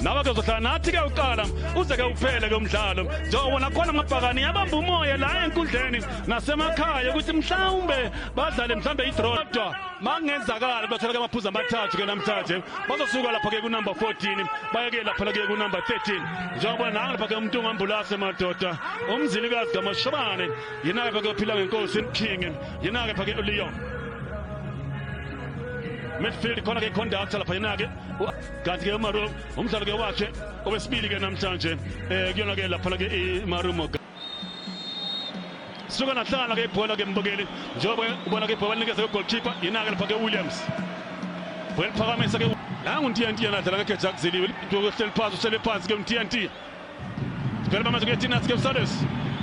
nawe ke uzohlala nathi ke uqala uze ke uphele ke umdlalo njengoba nakhona amabhakani yabamba umoya la enkundleni nasemakhaya ukuthi mhlawumbe badlale mhlawumbe idraw kodwa makungenzakala bathola ke amaphuzu amathathu ke namhlanje bazosuka lapha ke kunumber 14 baye ke lapha ke kunumber 13 njengoba nangu lapha ke umuntu ongambulase madoda umzilikazi kamashobane yena ke phakaphila ngenkosi king yena ke phake uleon midfield khona ke conductor lapha yena ke kanti ke umaru umdlalo ke wakhe owesibili ke namhlanje um kuyona ke laphana ke imarumo suka nahlala ke ibhola ke mbukeli njengoba ubona ke ibhola linikeza kugolkipa yena-ke lapha ke williams bhola liphakamisa ke nangu ntnt yena adlala ngekhe jakuziliwe hleli phansi uhlele phansi ke ntnt Sivele manje kuyeTinas ke uSales.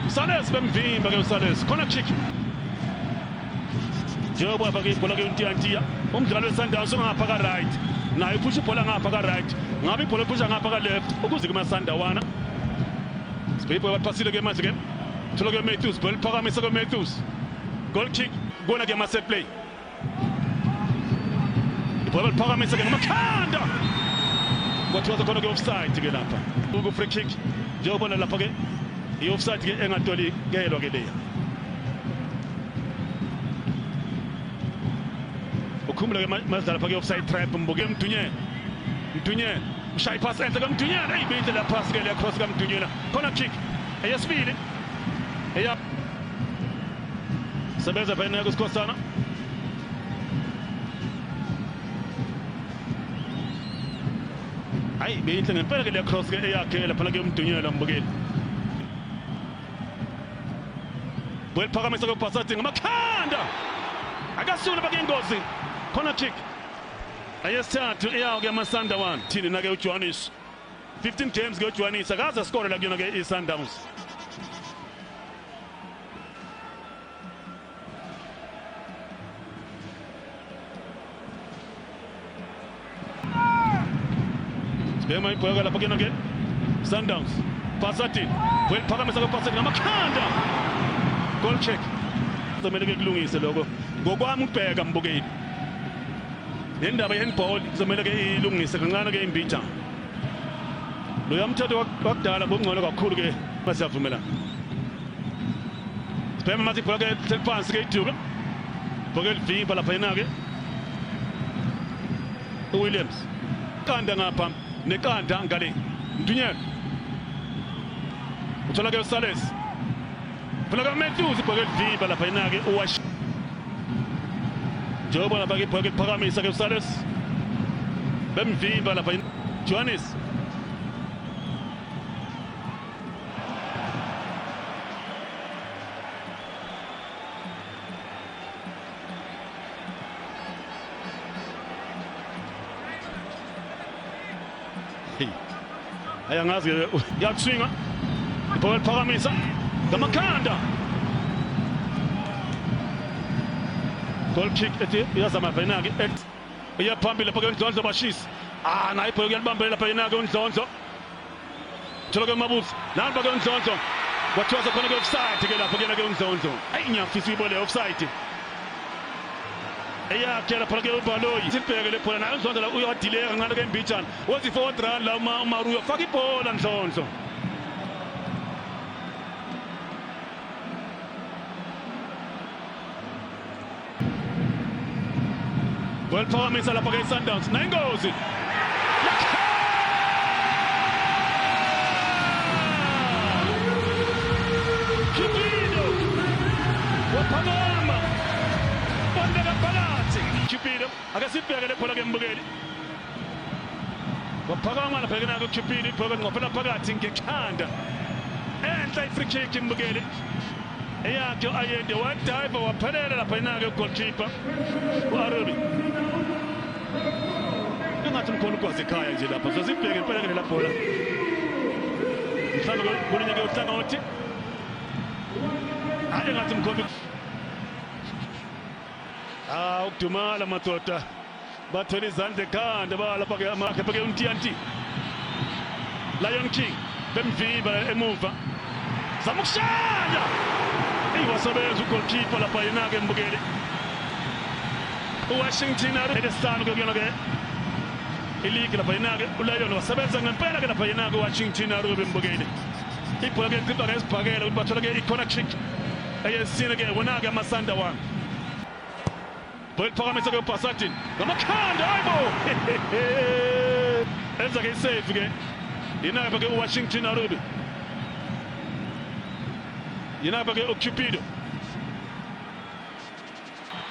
uSales bemvimba ke uSales. Khona kick. Njengoba afake ibhola ke uNtiyantiya, umdlali weSundowns ungapha ka right. Naye uphusha ibhola ngapha ka right. Ngabe ibhola uphusha ngapha ka left ukuze kuma Sundawana. Sibhibho baphasile ke manje ke. Thola ke Matthews, bhola liphakamise ke Matthews. Goal kick kona ke mase play. ibhola liphakamisa-ke ngamakhanda kwathiwa sekhona ke offside ke lapha ku free kick njengobona lapha ke i offside ke engatolikelwa ke leya ukhumula ke mazidlala lapha ke offside trap mbuke mdunye mdunye mshayi pass enhle kamdunyana eyi bintle la pass ke leya cross kamdunyela khona kick eyesibili eya Sebenza phela naku Sikhosana. Hayi beyinhle ngempela ke le cross ke eyakhe lapha ke umdunyela mbukeli. Weliphakamisa ke Basati ngamakhanda. Akasula bake ingozi. Corner kick. Ayesithathu eyawo ke amasanda one. Thini nake uJohannes. 15 games ke uJohannes akaze askore la kuyona ke iSundowns. Sibema ibhoyaka lapha kuyena ke Sundowns Basati weliphakamisa ke Basati ngamakhanda goal check kumele ke kulungise lokho ngokwami ubheka mbukeli nendaba ye-handball kuzomele ke ilungise kancane ke imbijana loya mthetho wakudala bongcono kakhulu ke basiyavumelana sibhema manje ibhola ke seliphansi ke iduka ibhola elivimba lapha yena ke uWilliams qanda ngapha neqanda ngale mdunyelo uthola ke uSales Phela ka Matthews ibhoke livimba lapha inake uwash. Njengoba lapha ke ibhoke liphakamisa ke uSales. Bemvimba lapha Johannes. Hey. Haya ngazi yakuswinga. Ibhola liphakamisa ngamakhanda. Goal kick ethi iyazama phela ke ex. Iya phambili lapha ke Ndlondlo bashisi. Ah nayi ibhola kuyalibambela lapha yena ke uNdlondlo. Thola ke Mabuzi. Namba ke uNdlondlo. Kwathiwa sekhona ke offside ke lapha kuyena ke uNdlondlo. Ayi ngiyafisa ibole offside. eyakhela phela ke ubaloyi sibhekele phela naye uzondo la uyadileya kancane ke mbijana wothi forward run la uma umaruyo faka ibhola nhlonhlo Well, Palmer is up against Sundowns. Nine goals. Cupido akasibheke lebhola ke mbukeli waphakama labheke nako Cupido ibhola ngqophela phakathi ngekhanda enhla i-free kick mbukeli eyakhe ayende wadive waphelela lapha inake ugoalkeeper u-arubi Ingathi mkhona ukwazi ekhaya nje lapha. Sesibheke impela ke labhola. Mhlawumbe kuninye ke uhlangothi. Hayi ngathi mkhona. Ah ukudumala madoda. Bathwele izandla ekhanda balapha ke amakhe pheke uNtiyanti. Lion King bemviva emuva. Zama ukushaya. Eyi wasebenza ugoalkeeper lapha yena-ke mbukeli. uwashington elesihlanu ke kuyona ke iligi lapha yena-ke ulayona wasebenza ngempela ke lapha yena-ke uwashington aruyo bembukeli ibhola ke liqhiba ngesibhakela ukuthi bathole ke i-corner kick eyesine ke wona-ke amasanda wami bhekuphakamisa ke ubhasadin ngamakhanda hayibo enza ke isafe ke yena-ke ke uwashington arubi yena-ke ke ucupido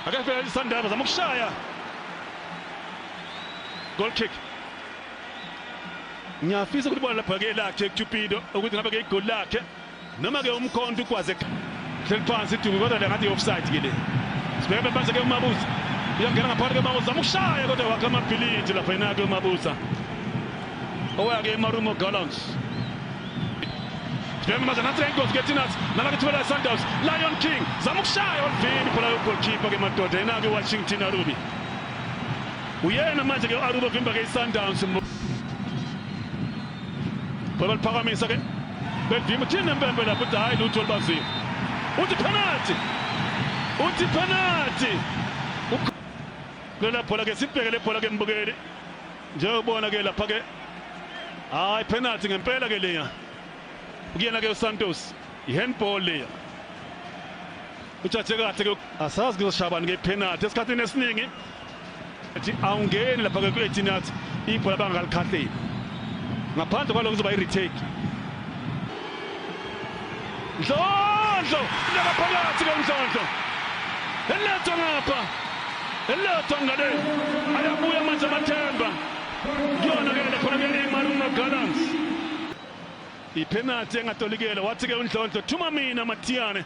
akafela lisandaba zama ukushaya goal kick ngiyafisa ukuthi bona lapha ke lakhe Cupido ukuthi ngabe ke igoli lakhe noma ke umkhonto ukwaze hleli phansi iduku kodwa le ngathi offside ke le sibheke phansi ke umabuza uyangena ngaphakathi ke umabuza umushaya kodwa wakhe amabhilidi lapha yena ke umabuza owake emarumo gallants Sibheke manje nathi ingozi kethina nala kithwela iSundowns Lion King zama ukushaya olivini ibhola logoalkeeper ke madoda yena ke Washington Arubi uyena manje ke Arubi vimba ke iSundowns Bhola liphakamisa ke bevimba thina impembe lapho uthi hayi lutho olibazile uthi penalty uthi penalty Lela bhola ke sibheke le bhola ke mbukeli njengobona ke lapha ke hayi penalty ngempela ke leya kuyena ke uSantos ihandball leya utshathe kahle ke asazi kuzoshabani ke penalty esikhathini esiningi ethi awungeni lapha ke ku-18 yards ibhola bangalikhahleli ngaphandle kwaloko kuzoba i-retake Ndlondlo leka phakathi ke Ndlondlo. Eletha ngapha. Eletha ngale. Ayabuya manje amathemba. Kuyona ke le khona ke iMarumo Gallants. Ipenalty engatolikele wathi ke uNdlondlo thuma mina Mathiyane.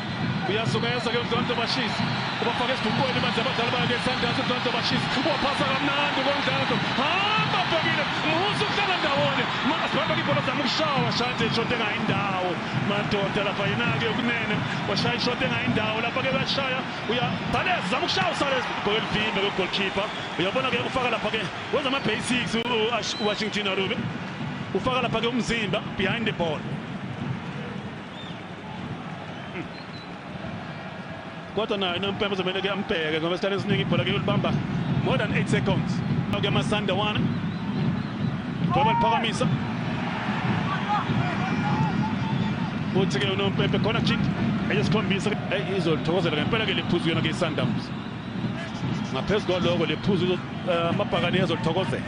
uyazungeza ke uNdlondlo Bashisi ubafaka esibhuqweni manje abadlali bakhe Sundowns uNdlondlo Bashisi waphasa kamnandi uNdlondlo hamba bhekile musa ukuhlala ndawonye masibamba ibhola zama ukushawa shanje ishoti engayi ndawo madoda lapha yena-ke yokunene washaya ishoti engayi ndawo lapha-ke uyashaya uyabhaleza zama ukushaya usale ibhola elivimbe kwegolkhipha uyabona-ke ufaka lapha-ke wenza ama-basics uwashington arube ufaka lapha-ke umzimba behind the ball kodwa naye nompembe uzomele ke ambheke ngoba isikhathi esiningi ibhola ke ulibamba more than 8 seconds ke amasanda one ngoba liphakamisa uthi ke unompembe khona kick eyesikhombisa izolithokozela ngempela ke lephuzu yona ke isundowns ngaphezu kwaloko lephuzu eh, amabhakane ezolithokozela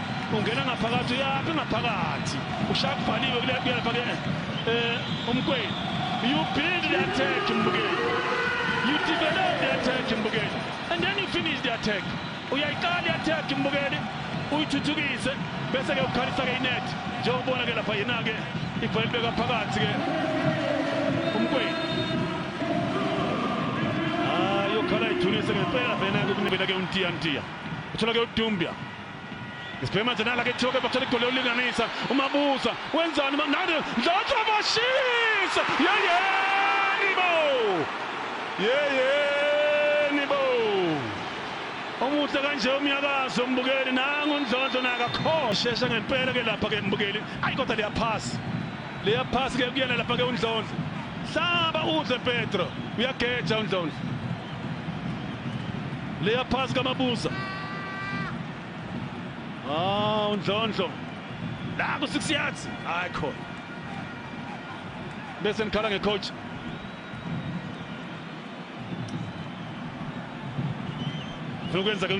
ungena ngaphakathi uyaphi ngaphakathi ushaya kubhaliwe kule kuyapha ke eh umkweli you build the attack mbukeli you develop the attack mbukeli and then you finish the attack uyayiqala i-attack mbukeli uyithuthukise bese ke ukhalisa ke inet njengobona ke lapha yena ke ibhola libeka phakathi ke umkweli ah yokhala ithulise ngempela vena ke kunibela ke untiya ntiya uthola ke udumbia Isibhema Zenala ke Thoke bathola igoli lokulinganisa uMabuza wenzani nani Dlotshwa bashisa yeyeni bo yeyeni bo omuhle kanje umnyakazo umbukeli nangu uNdlondlo nakakhoshe ngempela ke lapha ke mbukeli ayi kodwa liyaphasa liyaphasa ke kuyena lapha ke uNdlondlo hlaba udle Petro uyageja uNdlondlo liyaphasa kaMabuza Ah, uNdlondlo. La ku 6 yards. Hayi khona. Bese nikhala ngecoach. Lokwenza ke